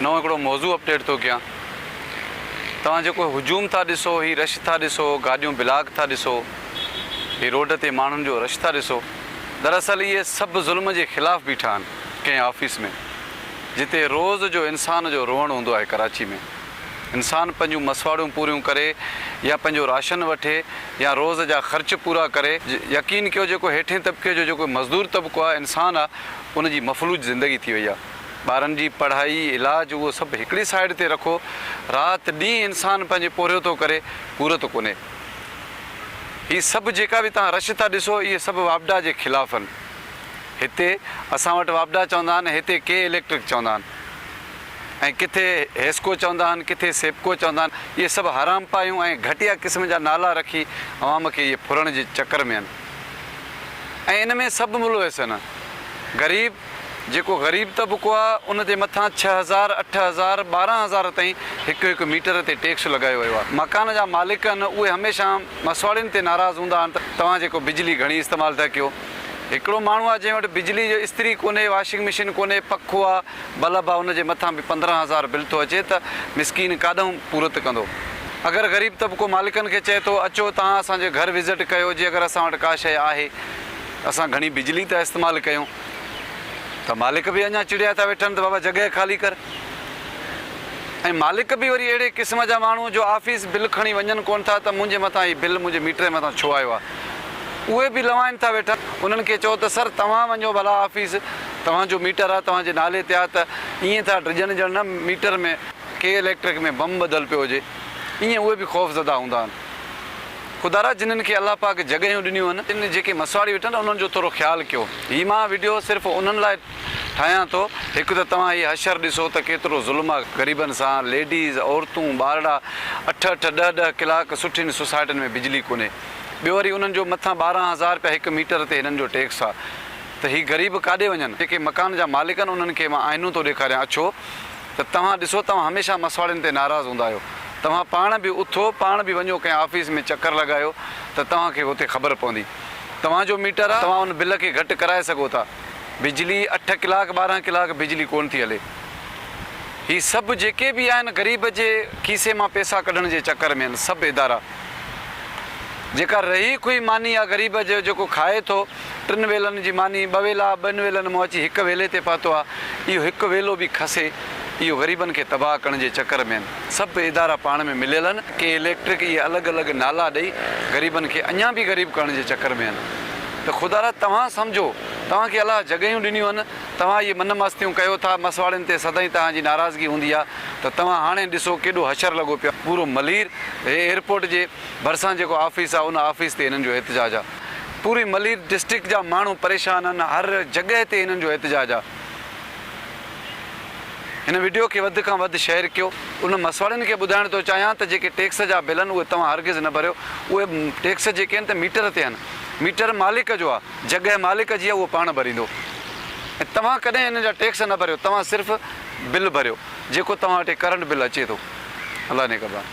نئون هڪڙو موضوع اپڊيٽ ٿو ڪيان توهان جيڪو هجوم ٿا ڏسو هي رش ٿا ڏسو گاڏيون بلاڪ ٿا ڏسو هي روڊ تي ماڻهن جو رش ٿا ڏسو دراصل اهي سڀ ظلم جي خلاف بيٺا آهن ڪنهن آفيس ۾ جتي روز جو انسان جو روئڻ هوندو آهي ڪراچي ۾ انسان پنهنجون مسواڙون پوريون ڪري يا پنهنجو راشن وٺي يا روز جا خرچ پورا ڪري. يقين ڪيو جيڪو هيٺين طبقي جو جيڪو مزدور طبقو آهي انسان آ ان جي مفلوج زندگي ٿي وئي آ. ٻارن جي پڙهائي، علاج اهو سڀ هڪڙي سائيڊ تي رکو رات ڏينهن انسان پنهنجي پورهيو ٿو ڪري پورت ڪونهي. هي سڀ جيڪا به توهان رش ٿا ڏسو اهي سڀ واپڊا جي خلاف آهن. هتي اسان وٽ واپڊا چوندا آهن هتي ڪي اليڪٽرڪ چوندا آهن. ۽ ڪٿي هيسڪو چوندا آهن ڪٿي سيپڪو چوندا آهن اهي سڀ حرام پايون ۽ گهٽيا قسم جا نالا رکي عوام کي اهي ڦرڻ جي چڪر ۾ آهن ۽ ان ۾ سڀ ملوث آهن غريب جيڪو غريب طبقو آهي ان تي مٿان ڇهه هزار اٺ هزار ٻارهن هزار تائين هڪ هڪ ميٽر تي ٽيڪس لڳايو ويو آهي مڪان جا مالڪ آهن اهي هميشه مسواڙين تي ناراض هوندا آهن ته توهان جيڪو بجلي گهڻي استعمال ٿا ڪيو هڪڙو ماڻهو آهي جنهن وٽ بجلي جو استري ڪونهي واشنگ مشين ڪونهي پکو آهي بل ابا ان جي مٿان به پندرهن هزار بل ٿو اچي ته مسڪين ڪاڏنهن پورت ڪندو. اگر غريب طبقو مالڪن کي چئي ٿو اچو توهان اسان جي گهر وزٽ ڪيو جي اگر اسان وٽ ڪا شيء آهي اسان گهڻي بجلي ٿا استعمال ڪيون ته مالڪ به اڃا چڙيا ٿا ويٺن ته بابا جڳهه خالي ڪر ۽ مالڪ به وري اهڙي قسم جا ماڻهو جو آفيس بل کڻي وڃن ڪونه ٿا ته منهنجي مٿان هي بل منهنجي ميٽر مٿان ڇو آيو آهي اهي به لوائن ٿا ويٺن انهن کي چئو ته سر توهان وڃو ڀلا آفيس توهان جو ميٽر آ توهان جي نالي تي آ ته ائين ٿا ڊڄن ڄڻ نه ميٽر ۾ ڪي اليڪٽرڪ ۾ بم ٻڌل پيو هجي ائين اهي به خوف زده هوندا آهن خدارا جنن کي الله پاڪ جڳهيون ڏنيون آهن تن جيڪي مسواڙي ويٺا آهن انهن جو ٿورو خيال ڪيو هي مان وڊيو صرف انهن لاء ٺاهيان ٿو هڪ ته توهان هي حشر ڏسو ته ڪيترو ظلم آ غريبن سان ليڊيز عورتون ٻارڙا اٺ اٺ ڏهه ڏهه ڪلاڪ سٺين سوسائٽين ۾ بجلي ڪونهي ٻيو وري انهن جو مٿان ٻارهن هزار رپيا هڪ ميٽر تي هنن جو ٽيڪس آ ته هي غريب ڪاڏي وڃن؟ جيڪي مڪان جا مالڪ آهن انهن کي مان آئينو ٿو ڏيکاريان اڇو ته توهان ڏسو توهان هميشه مسواڙين تي ناراض هوندا آهيو توهان پاڻ به اٿو پاڻ به وڃو ڪنهن آفيس ۾ چڪر لڳايو ته توهان کي به اتي خبر پوندي توهان جو ميٽر آهي توهان ان بل کي گهٽ ڪرائي سگهو ٿا بجلي اٺ ڪلاڪ ٻارهن ڪلاڪ بجلي ڪونه ٿي هلي هي سڀ جيڪي به آهن غريب جي کيسي مان پيسا ڪڍڻ جي چڪر ۾ آهن سڀ ادارا. جيڪا رهي کوئي ماني آ غريب جو جيڪو کائي ٿو ٽن ويلن جي ماني ٻه ويلا ٻن ويلن مان اچي هڪ ويلي تي پهتو آ اهو هڪ ويلو به کسي اهو غريبن کي تباهه ڪرڻ جي چڪر ۾ آهن سڀ ادارا پاڻ ۾ مليل آهن ڪي اليڪٽرڪ اهي الڳ الڳ نالا ڏئي غريبن کي اڃان به غريب ڪرڻ جي چڪر ۾ آهن ته خدا را توهان سمجهو توهان کي الله جڳهيون ڏنيون آهن توهان اهي من مستيون ڪيو ٿا مسواڙين تي سدائين توهان جي ناراضگي هوندي آ ته توهان هاڻي ڏسو ڪيڏو حشر لڳو پيو آهي پورو ملير هي ايئرپورٽ جي ڀرسان جيڪو آفيس آهي ان آفيس تي هنن جو احتجاج آهي پوري ملير ڊسٽرڪٽ جا ماڻهو پريشان آهن هر جڳهه تي هنن جو احتجاج آهي هن وڊيو کي وڌ کان وڌ شيئر ڪيو ان مسواڙين کي ٻڌائڻ ٿو چاهيان ته جيڪي ٽيڪس جا بل آهن اهي توهان هرگز نه ڀريو اهي ٽيڪس جيڪي آهن ته ميٽر تي آهن ميٽر مالڪ جو آهي جڳهه مالڪ جي آهي اهو پاڻ ڀريندو ۽ توهان ڪڏهن هنن جا ٽيڪس نه ڀريو توهان صرف بل ڀريو جيڪو توهان وٽ هي ڪرنٽ بل اچي ٿو الله نگهبان.